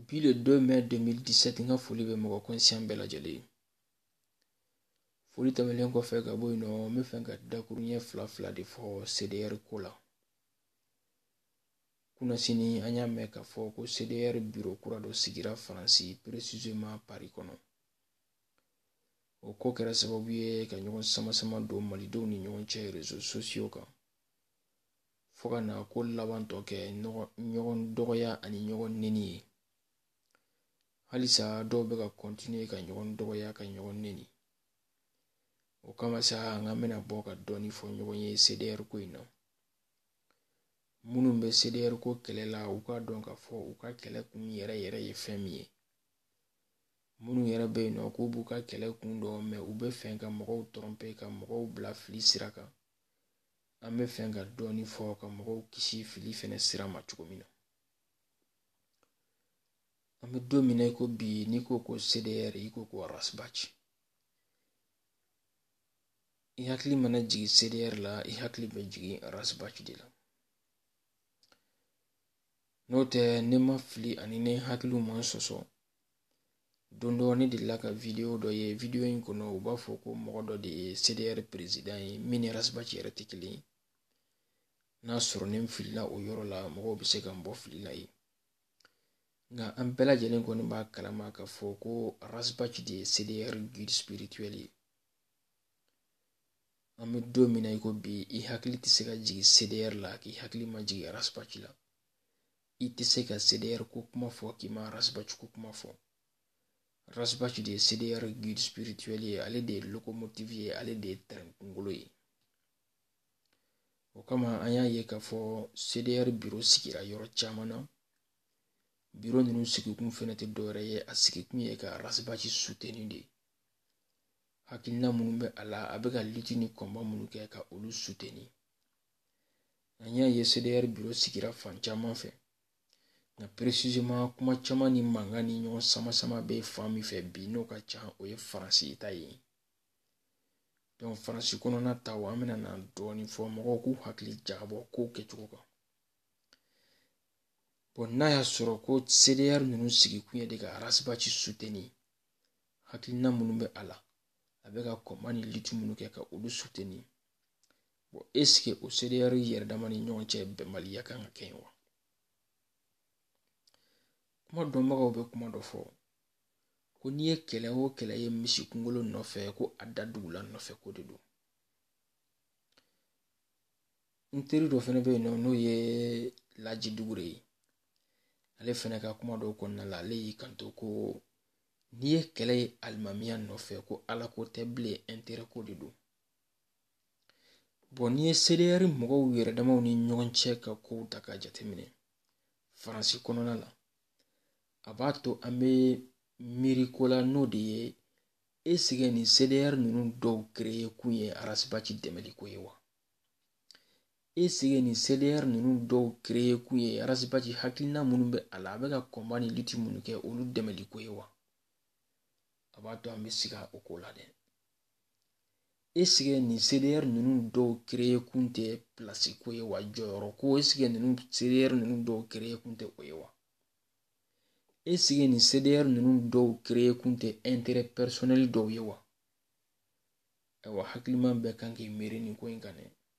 Bi le 2 mai 2017 n ka foli bɛ mɔgɔ kɔnsiyan bɛɛ lajɛlen ye foli tɛmɛlen kɔfɛ ka bɔ yen nɔ n bɛ fɛ ka dakuru ɲɛ fila fila de fɔ cdr ko la kunnasini an y'a mɛn k'a fɔ ko cdr biro kura dɔ sigira faransi peresizeman pari kɔnɔ o ko kɛra sababu ye ka ɲɔgɔn samasama don malidenw ni ɲɔgɔn cɛ rezo sosiyo kan fo ka na ko laban tɔ kɛ ɲɔgɔn dɔgɔya ani ɲɔgɔn neni ye halisa dɔw bɛ ka kɔntiniye ka ɲɔgɔn dɔgɔya ka ɲɔgɔn neni o kama sa an ka bɛna bɔ ka dɔɔni fɔ ɲɔgɔn ye cdr ko in na minnu bɛ cdr ko kɛlɛ la u k'a dɔn k'a fɔ u ka kɛlɛ kun yɛrɛ yɛrɛ ye fɛn min ye minnu yɛrɛ bɛ yen nɔ k'u b'u ka kɛlɛ kun dɔn mɛ u bɛ fɛ ka mɔgɔw tɔrɔnpe ka mɔgɔw bila fili sira kan an bɛ fɛ ka dɔɔni fɔ ka mɔgɔw kisi fili fɛnɛ sira ma cogo min na an bɛ don min na i ko bi n'i ko ko CDR i ko ko Ras Bath i hakili mana jigin CDR la i hakili bɛ jigin Ras Bath de la n'o tɛ ne ma fili ani ne hakiliw ma n sɔsɔ don dɔ ne delila ka video dɔ ye video in kɔnɔ u b'a fɔ ko mɔgɔ dɔ de ye cdr perezidan ye min ni rasibati yɛrɛ tɛ kelen ye n'a sɔrɔ ne filila o yɔrɔ la mɔgɔw bɛ se ka n bɔ fili la yen nka an bɛɛ lajɛlen kɔni b'a kalama k'a fɔ ko rasibati de ye cdr guide spirituel ye an bɛ don min na i ko bi i hakili tɛ se ka jigin cdr la k'i hakili ma jigin rasibati la i tɛ se ka CDR ko kuma fɔ k'i ma Ras Bath ko kuma fɔ. Ras Bath de ye CDR guide spirituel ye, ale de ye locomotive ye, ale de ye train kunkolo ye. O kama an y'a ye k'a fɔ CDR biro sigira yɔrɔ caman na. Biro ninnu sigikun fɛnɛ tɛ dɔwɛrɛ ye, a sigikun ye ka Ras Bath suteni de. Hakilina minnu bɛ a la, a bɛ ka lutte ni combat minnu kɛ ka olu suteni. An y'a ye CDR biro sigira fan caman fɛ nka peresizeman kuma caman ni mankan ni ɲɔgɔn sama sama bɛ fan min fɛ bi n'o ka ca o ye Faransi ta ye dɔnku Faransi kɔnɔna ta an bɛna na dɔɔnin fɔ mɔgɔw k'u hakili jagabɔ kow kɛcogo kan bɔn n'a y'a sɔrɔ ko CDR ninnu sigikun ye de ka Ras Bath suteni hakilina minnu bɛ a la a bɛ ka kɔnba ni liti minnu kɛ ka olu suteni eseke o CDR yɛrɛ dama ni ɲɔgɔn cɛ bɛnbaliya kan ka kɛ yen wa kuma dɔnbagaw bɛ kuma dɔ fɔ ko n'i ye kɛlɛ o kɛlɛ ye misi kunkolo nɔfɛ ko a da dugula nɔfɛ ko de don n teri dɔ fɛnɛ bɛ yen nɔ n'o ye laji dugure ye ale fɛnɛ ka kuma dɔw kɔnɔna la ale y'i kanto ko n'i ye kɛlɛ ye alimamiya nɔfɛ ko ala ko tɛ bilen ɛnterɛ ko de don bɔn n'i ye CDR mɔgɔw yɛrɛ damaw ni ɲɔgɔn cɛ ka kow ta k'a jateminɛ faransi kɔnɔna na a b'a to an bɛ miiri ko la n'o de ye esike nin CDR ninnu dɔw kereye kun ye ras bath dɛmɛli ko ye wa esike nin CDR ninnu dɔw kereye kun ye ras bath hakilina minnu bɛ a la a bɛ ka kɔnba ni liti minnu kɛ olu dɛmɛli ko ye wa a b'a to an bɛ siga o ko la dɛ esike nin CDR ninnu dɔw kereye kun tɛ pilasi ko ye wa jɔyɔrɔ ko esike ninnu CDR ninnu dɔw kereye kun tɛ o ye wa esike nin CDR ninnu dɔw kereye kun tɛ ɛnterɛ pɛrisɔnɛli dɔw ye wa ayiwa hakiliman bɛɛ kan k'i miiri nin ko in kan dɛ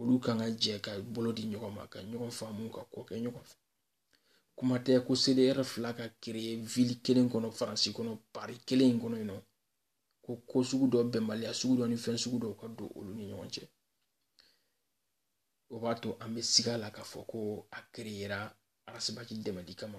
olu kan ka jɛ ka bolo di ɲɔgɔn ma ka ɲɔgɔn faamu ka ko kɛ ɲɔgɔn fɛ kuma tɛ ko CDR fila ka kereye ville kelen kɔnɔ faransi kɔnɔ pari kelen in kɔnɔ yen nɔ ko ko sugu dɔ bɛnbaliya sugu dɔ ni fɛn sugu dɔw ka don olu ni ɲɔgɔn cɛ o b'a to an bɛ siga la k'a fɔ ko a kereyera ras bath dɛmɛli kama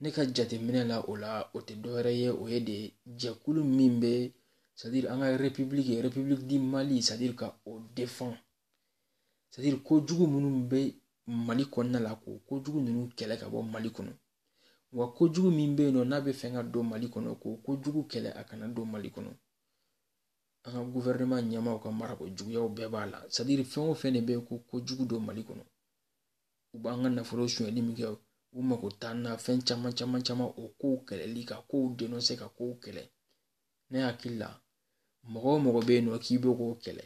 ne ka jateminɛ la o la o tɛ dɔwɛrɛ ye o ye de jɛkulu min bɛ sadiri an ka repibuliki repibuliki di mali sadiri ka o defan sadiri kojugu minnu bɛ mali kɔnɔna la k'o kojugu ninnu kɛlɛ ka bɔ mali kɔnɔ wa kojugu min bɛ yen nɔ n'a bɛ fɛ ka don mali kɔnɔ k'o kojugu kɛlɛ a kana don mali kɔnɔ an ka guvɛrɛnɛman ɲɛmaaw ka marako juguyaw bɛɛ b'a la sadiri fɛn o fɛn de bɛ yen ko kojugu don mali kɔnɔ u b'an ka nafolo sonyali min kɛ u mako t'an na fɛn caman caman caman o kow kɛlɛli ka kow denɔse ka kow kɛlɛ ne hakili la mɔgɔ o mɔgɔ bɛ yen nɔ k'i bɛ k'o kɛlɛ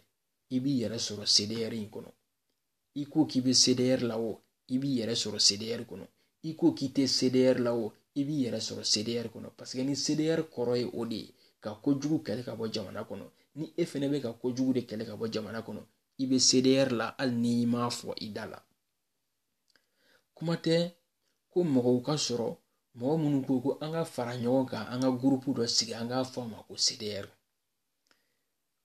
i b'i yɛrɛ sɔrɔ CDR in kɔnɔ i ko k'i bɛ CDR la o i b'i yɛrɛ sɔrɔ CDR kɔnɔ i ko k'i tɛ CDR la o i b'i yɛrɛ sɔrɔ CDR kɔnɔ parce que ni CDR kɔrɔ ye o de ye ka kojugu kɛlɛ ka bɔ jamana kɔnɔ ni e fɛnɛ bɛ ka kojugu de kɛlɛ ka bɔ jamana kɔnɔ i bɛ CDR la hali ni i m'a fɔ i da la kuma tɛ ko mɔgɔw ka sɔrɔ mɔgɔ minnu ko ko an ka fara ɲɔgɔn kan an ka gurupu dɔ sigi an k'a fɔ a ma ko CDR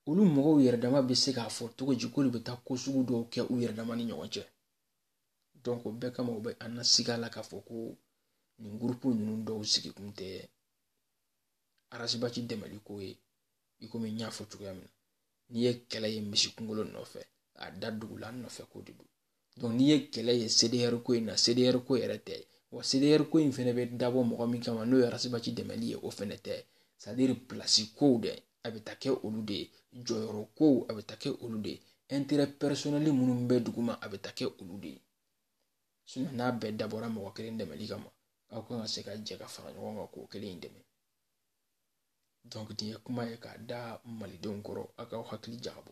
olu mɔgɔw yɛrɛ dama bɛ se k'a fɔ cogo di k'olu bɛ taa ko sugu dɔw kɛ u yɛrɛ dama ni ɲɔgɔn cɛ donc o bɛɛ kama u bɛ an na siga la k'a fɔ ko nin gurupu ninnu dɔw sigi kun tɛ ras bath dɛmɛliko ye i komi n y'a fɔ cogoya min na n'i ye kɛlɛ ye misi kunkolo nɔfɛ a da dugu la nɔfɛ ko de don donc n'i ye kɛlɛ ye CDR ko in na CDR ko yɛrɛ tɛ wa CDR ko in fɛnɛ bɛ dabɔ mɔgɔ min kama n'o ye Arasibaci dɛmɛli ye o fɛnɛ tɛ c'est à dire pilasi kow dɛ a bɛ taa kɛ olu de ye jɔyɔrɔ kow a bɛ taa kɛ olu de ye intérêt personnel minnu bɛ duguma a bɛ taa kɛ olu de ye sinon n'a bɛɛ dabɔra mɔgɔ kelen dɛmɛli kama aw kan ka se ka jɛ ka fara ɲɔgɔn kan k'o kelen in dɛmɛ donc nin ye kuma ye k'a da malidenw kɔrɔ a k'aw hakili jagabɔ